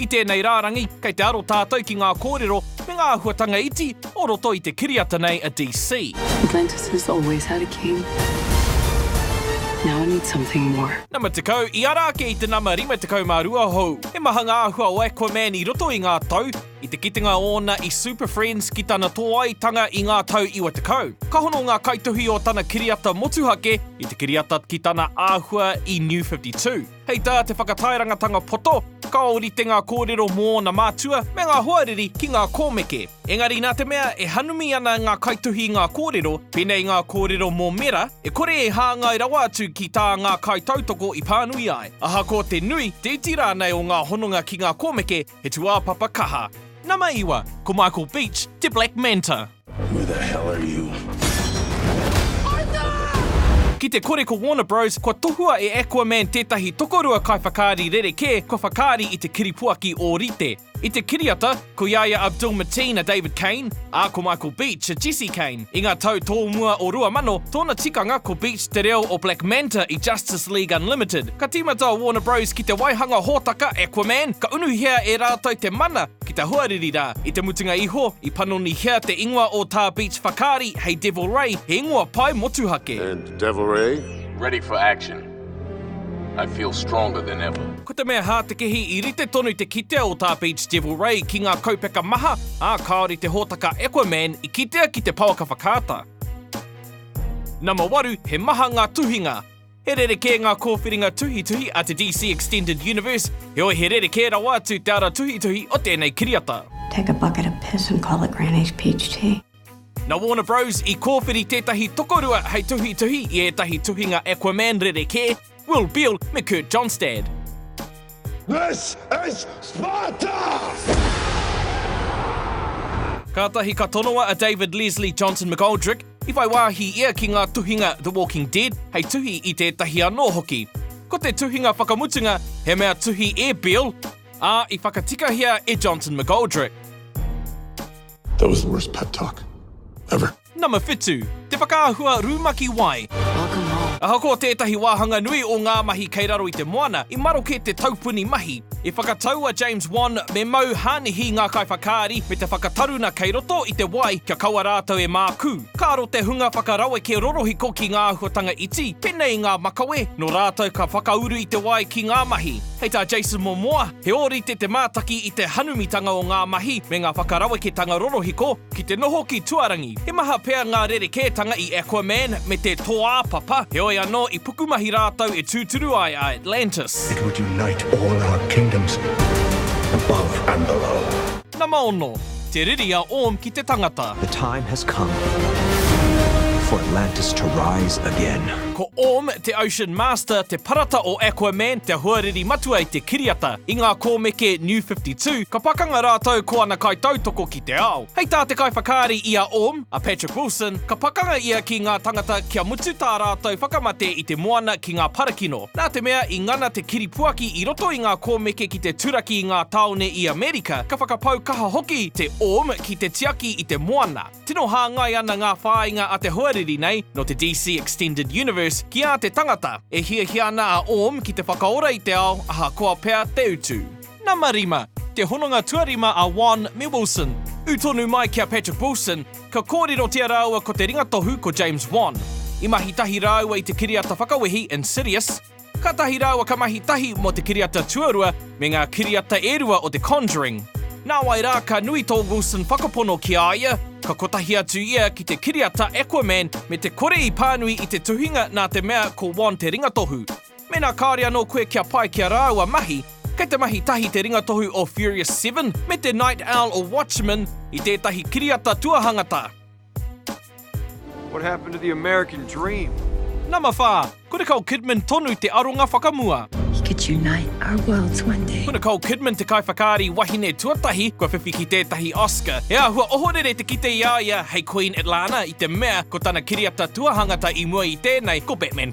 I tēnei rārangi, kei te aro tātou ki ngā kōrero me ngā āhuatanga iti o roto i te kiriata nei a DC. Atlantis has always had a king. Now it needs something more. Nama 10, i ara ake i te nama 52 hou. He maha ngā āhua o Aquaman i roto i ngā tau, i te kitenga ōna i Super Friends ki tana tōaitanga i ngā tau 90. Ka hono ngā kaituhi o tana kiriata motuhake i te kiriata ki tana āhua i New 52. Hei tā te whakataerangatanga poto, ka ōrite ngā kōrero mō ōna mātua me ngā hoariri ki ngā kōmeke. Engari nā te mea e hanumi ana ngā kaituhi i ngā kōrero, pēnei ngā kōrero mō Mera, e kore e hāngai rawa atu ki tā ngā kaitautoko i pānui ai. Ahakoa te nui, te iti rānei o ngā hononga ki ngā kōmeke, He tuāpapa kaha. Nama iwa, ko Michael Beach te Black Manta. Who the hell are you? Ki te kore ko Warner Bros kua tohua e Aquaman tētahi tokorua kaiwhakaari rerekē kua whakaari i te kiripuaki ōrite. I te kiriata, ko i a ia a Bill Mateen a David Cain, ā, ko Michael Beach a Jesse Cain. I ngā tau tōmua o 2000, tōna tikanga ko Beach te reo o Black Manta i Justice League Unlimited. Ka tīmata a Warner Bros ki te waihanga hōtaka Aquaman, ka unuhia e rātou te mana ki te hoariri rā. I te mutunga iho, i panonihia te ingoa o tā Beach whakaari hei Devil Ray, he ingoa pai motuhake. And Devil Ray? Ready for action. I feel stronger than ever. Ko te mea hātekehi i rite tonu te kitea o tā Beach Devil Ray ki ngā kaupeka maha, ā, kāore te hōtaka Aquaman i kitea ki te pouaka whakaata. Nama waru, he maha ngā tuhinga. He rerekē ngā kōwhiringa tuhituhi a te DC Extended Universe, heoi he rerekē rawa atu te ara tuhituhi o tēnei kiriata. Take a bucket of piss and call it Granny's peach tea. Na Warner Bros i kōwhiri tētahi tokorua hei tuhituhi i ētahi tuhinga Aquaman rerekē, Will Beall me Kurt Johnstad. This is Sparta! Kātahi ka tonoa a David Leslie Johnson McGoldrick, i whai wāhi ia ki ngā tuhinga The Walking Dead hei tuhi i tētahi anō hoki. Ko te tuhinga whakamutunga he mea tuhi e Beall, ā, i whakatikahia e Johnson McGoldrick. That was the worst pep talk ever. Number whitu, te whakaahua rumaki wai. Welcome home. Ahakoa tētahi wāhanga nui o ngā mahi kei raro i te moana, i maroke te taupuni mahi. I whakatau a James Wan me Mau Hānihi ngā kaiwhakaari me te whakataruna kei roto i te wai kia kaua rātou e mākū. Ka aro te hunga whakaraweke rorohiko ki ngā āhuatanga iti, pēnei i ngā makawe, nō rātou ka whakauru i te wai ki ngā mahi. Hei tā Jason Momoa, He ōrite te mātaki i te hanumitanga o ngā mahi me ngā whakaraweketanga rorohiko ki te noho ki tuarangi. He maha pea ngā rerekētanga i Aquaman me te Toā Papa, heoi anō i pukumahi rātou e tūturu ai a Atlantis. It would unite all our kingdoms above and below. Nama ono, te riri a Orm ki te tangata. The time has come for Atlantis to rise again. Ko Orm, te Ocean Master, te parata o Aquaman, te hoariri matua i te kiriata. I ngā kōmeke New 52, ka pakanga rātou ko ana kaitautoko ki te ao. Hei tā te kaiwhakaari i a Orm, a Patrick Wilson, ka pakanga ia ki ngā tangata kia mutu tā rātou whakamate i te moana ki ngā parakino. Nā te mea i ngana te kiripuaki i roto i ngā kōmeke ki te turaki i ngā tāone i Amerika, ka whakapau kaha hoki te om ki te tiaki i te moana. Tino hāngai ana ngā whāinga a te hoariri nei, nō te DC Extended Universe, ki ā te tangata. E hiahia ana a om ki te whakaora i te ao, ahakoa pea te utu. Nama rima, te hononga tuarima a Won me Wilson. Ū tonu mai ki a Patrick Wilson, ka kōrerotia rāua ko te ringatohu ko James Won. I mahi tahi rāua i te kiriata whakawehi Insidious. Kātahi rāua ka mahi tahi mō te kiriata tuarua me ngā kiriata e rua o The Conjuring. Nāwai rā ka nui tō Wilson whakapono ki a ia, ka kotahi atu ia ki te kiriata Aquaman me te kore i pānui i te tuhinga nā te mea ko Won te ringatohu. Mēnā kāore anō koe kia pai ki a rāua mahi, kei te mahi tahi te ringatohu o Furious Seven me te Night Owl o Watchmen i tētahi kiriata tuahangata. What happened to the American dream? Nama whā, ko Nicole Kidman tonu te aronga whakamua. He could unite our worlds one day. Ko Nicole Kidman te kaiwhakaari wahine tuatahi kua whiwhi ki tētahi Oscar. He āhua ohorere te kite i a ia hei Queen Atlanna i te mea ko tana kiriata tuahangata i mua i tēnei ko Batman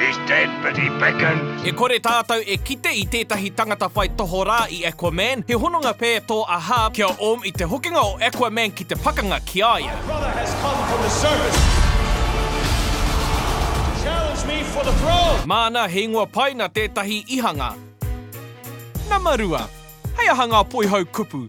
He's dead, but he beckons. E kore tātou e kite i tētahi tangata whai tohorā i Aquaman, he hononga pē tō a Harb ki a Orm i te hokinga o Aquaman ki te pakanga ki a ia. My brother has come from the surface to challenge me for the throne! Māna he ingoa pai nā tētahi i hanga. Nama rua. Hei aha ngā poihau kupu?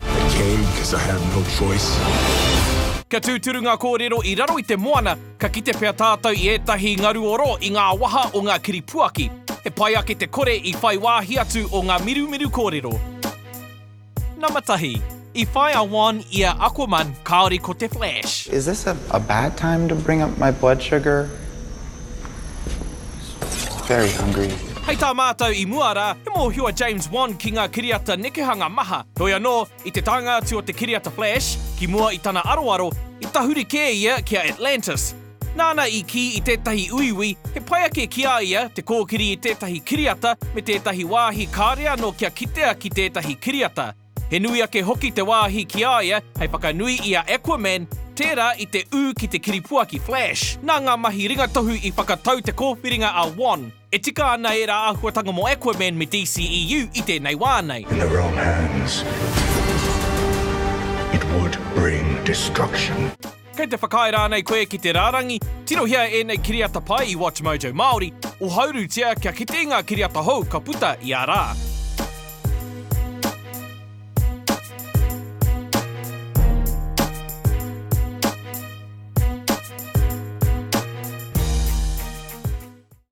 I came because I had no choice. Kia tūturu ngā kōrero i raro i te moana, ka kite pea tātou i ētahi ngaruoro i ngā waha o ngā kiripuaki. He pai ake te kore i whai wāhi atu o ngā mirumiru kōrero. Nama tahi. I whai a Juan i a Aquaman, kāore ko te Flash. Is this a bad time to bring up my blood sugar? Very hungry. Hei tā mātou i mua rā, he mōhio a James Wan ki ngā kiriata nekehanga maha. Heoi anō, i te taenga atu o te kiriata Flash, ki mua i tana aroaro, i tahuri kē ia ki a Atlantis. Nāna i kī i tētahi uiui, he pai ake ki a ia te kōkiri i tētahi kiriata me tētahi wāhi kāore anō kia kitea ki tētahi kiriata. He nui ake hoki te wāhi ki a ia hei whakanui i a Aquaman, tērā i te ū ki te kiripuaki Flash. Nā ngā mahi ringatohu i whakatau te kōwhiringa a Wan. E tika ana ērā āhuatanga mō Aquaman me DCEU i tēnei wā nei. In the wrong hands, it would bring destruction. Kei te whakaae rānei koe ki te rārangi? Tirohia ēnei kiriata pai i WatchMojo Māori, ohaurutia kia kite i ngā kiriata hou ka puta i ā rā.